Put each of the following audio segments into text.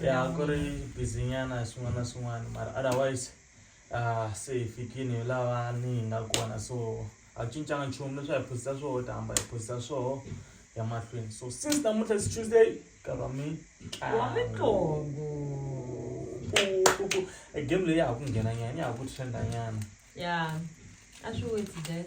ya ku ri busy nyana hi swin'wana na swin'wana mara otherwise uh, se hi fikini hi lava ni hi nga kona so a ku cincanga nchumu leswi a hi phosisa swoho ta hamba hi phosisa swoho ya mahlweni so since namuntlha is tuesday karwa mi wa mitlongo e game leyi ya ha ku nghena nyana ya ha ku trenda nyana ya a swi wetsi that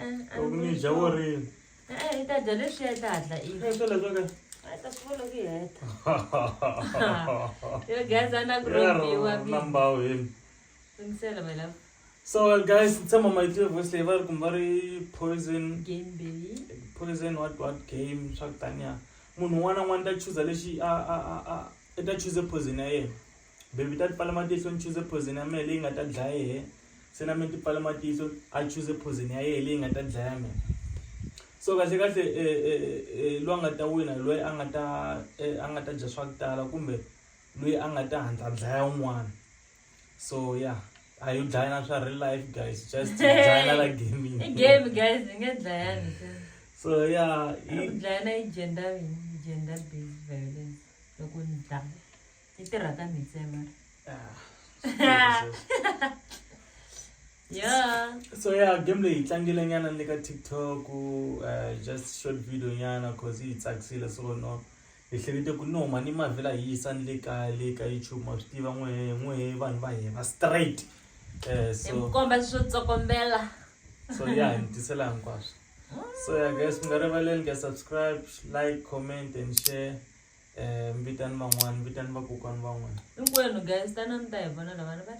Eh, a loko ni dya wo ri e-e i ta dya leswiya i ta hatla i eh, sweleswo ka a yi ta swi vona ku yi heta yo guys a na ku rhobiwa nambawu hini ringisela my love so guys tshama ma yitliwe voice leyi va ri kumbe va ri poison game baby poison what what game swa ku taniya munhu un'wana na un'wana ta chuza lexi a a a a i ta chuze poison ya yena Baby ta tipfala matihlo ni chuze poison ya mehe leyi nga ta dlaya yehe se na mina tipfala matihlo a chuze poison ya yehe leyi nga ta dlaya mina so kahle kahle eh, eh, eh, loyi a nga ta wina loyi a nga ta a nga ta dya swa ku tala kumbe loyi a nga ta handla dlaya un'wana so ya yeah. a yi dlaya na swa real life guys just dlaya na la gaming game guys ni nga dlayani so ya yeah, dlaya na yi gender gender based violence loko ni dlaya yi tirha ka mitsema yeah so yeah game leyi hi tlangile nyana ni le ka tiktok uh, just short video nyana cause yi hi tsakisile so no hi hlekete ku no mani mavhela hi yisa ni le kaya le ka youtube ma swi tiva n'wehe n'wehe vanhu va hina straight um so komba swo tsokombela so ya hi mi tisela hinkwaswo so ya guys mi nga rivaleli ka subscribe like comment and share Eh, vitani van'wani vitani vakokwani van'wani hinkwenu guys tana mi ta hi vona lavana va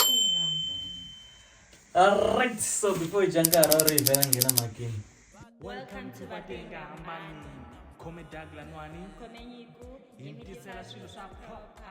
alright so before hi dya nkarhi a wu ri hi vela nghena makini welcome to vatenga hambani khome dag lanwani khome nyiku hi mi tisela swilo swa nkoka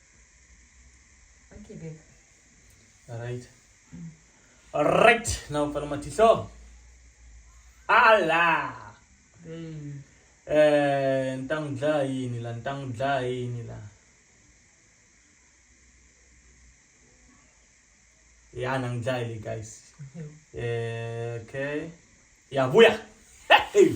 Okay, babe. All right. Mm. All right. Now, pala matihlo. Ala. Babe. Eh, ntang dla yini la, ntang dla yini la. Ya nang dla yini, guys. Eh, okay. Ya, buya. Hey.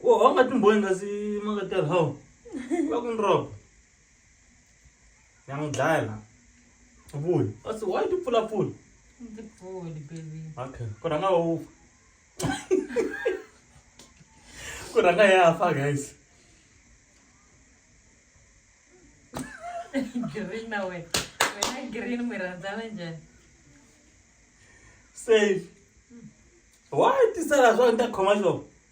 Wo a wu nga timbhoyi nga si makatela hawu va ku ni robo ya n'wi dlaya la vuli a se wa yi tipfulapfula Ndzi pfuli baby. okay ku rhanga wa wu ku rhanga ya fa guys Green na wena. Wena green mi rhandzana njhani? save wa yi tisela swa ni ta khoma xo